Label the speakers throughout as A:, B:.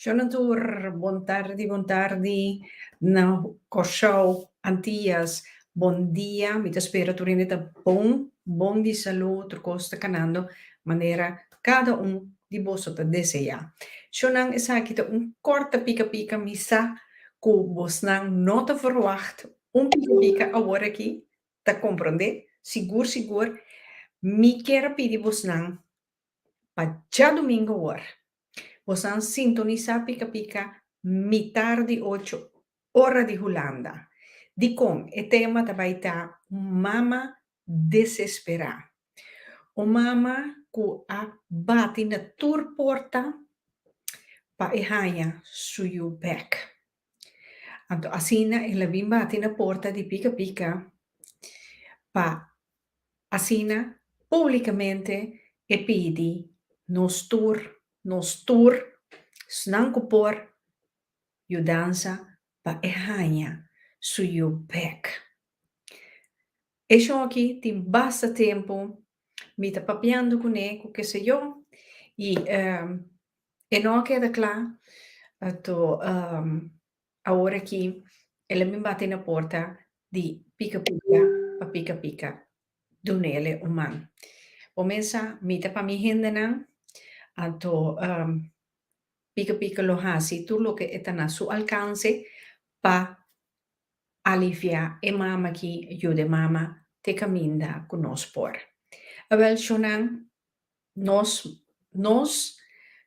A: Shona tur, bon tardi, bon tardi na Kòrsou, Antillas, bon dia, mi ta spera tur hende ta bon, bon di salú, tur kos ta kanando manera cada un di boso ta deseá. Chonan esaki ta un corta pica pica mi sa cu bosnan no ta verwacht un pica pica awor aki, ta comprende? Sigur sigur mi kier a pidi bosnan pa djadumingo awor bosnan sintonisá pica pica mitar di ocho ora di Hulanda. Dicon e tema ta bay ta Mama desesperá. Un mama ku a bati na tur porta pa e haña su yu bèk. Anto asina el a bin bati na porta di pika pika pa asina públikamente e pidi, Nos tur, nos tur, snan ku por, yudansa pa e haña su yu bèk. E shon aki tin basta tempu mi ta papiando cu ne cu keseyo y e no a keda cla to awor aki el a bin bate na porta di pica pica pa pica pica duna el e un man. Bo mes sa mi ta pa mi hendenan a to pica pica lo haci tur loke e ta na su alcance pa Aliviá e mama ki, yuda e mama te kaminda ku nos por. Awèl shonnan, nos nos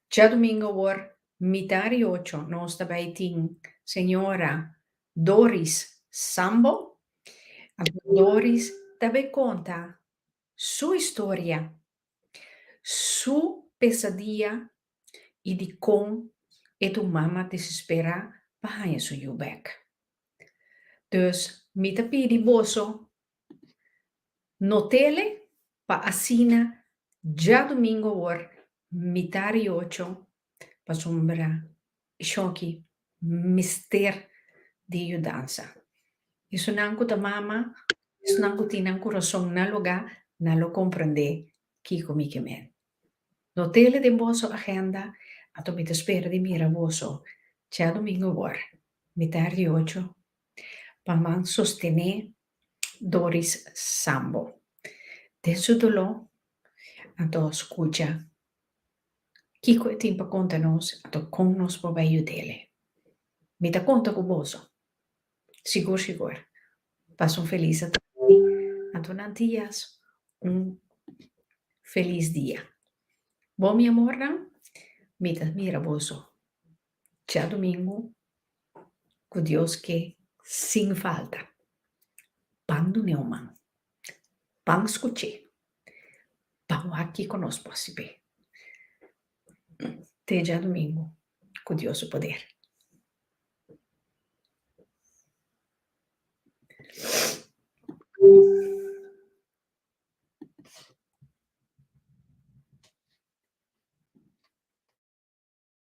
A: djadumingu awor mitá di ocho nos ta bai tin señora Doris Sambo. Doris ta bai konta su historia Su pesadiya i dikon e tur mama desesperá pa haña su yu bèk. Dus mi ta pidi boso, no tele pa asina djadumingu awor mitadi ocho, pasobra E shoki mester di yudansa. Esunnan ku ta mama, esunnan ku tin nan kurason na lugá, nan lo komprendé kiko mi ke men. No tele den boso agenda, anto mi ta spera di mira boso dja domingo wòr, mitar di ocho, pa nan sostené Doris Sambo den su doló, anto skucha Kiko e tin pa konta nos anto kon nos por bai yud'ele? Mi ta konta ku boso. Sigur sigur. Pasun felis a tra'i anto nan tias un felis dia. Bo mi amornan, mi ta mira boso. Djadomingu ku Dios ke sin falta. Pan dune o man. Pan skuché pa wak kiko nos por sibé. Te Djadomingu ku Dios su poder.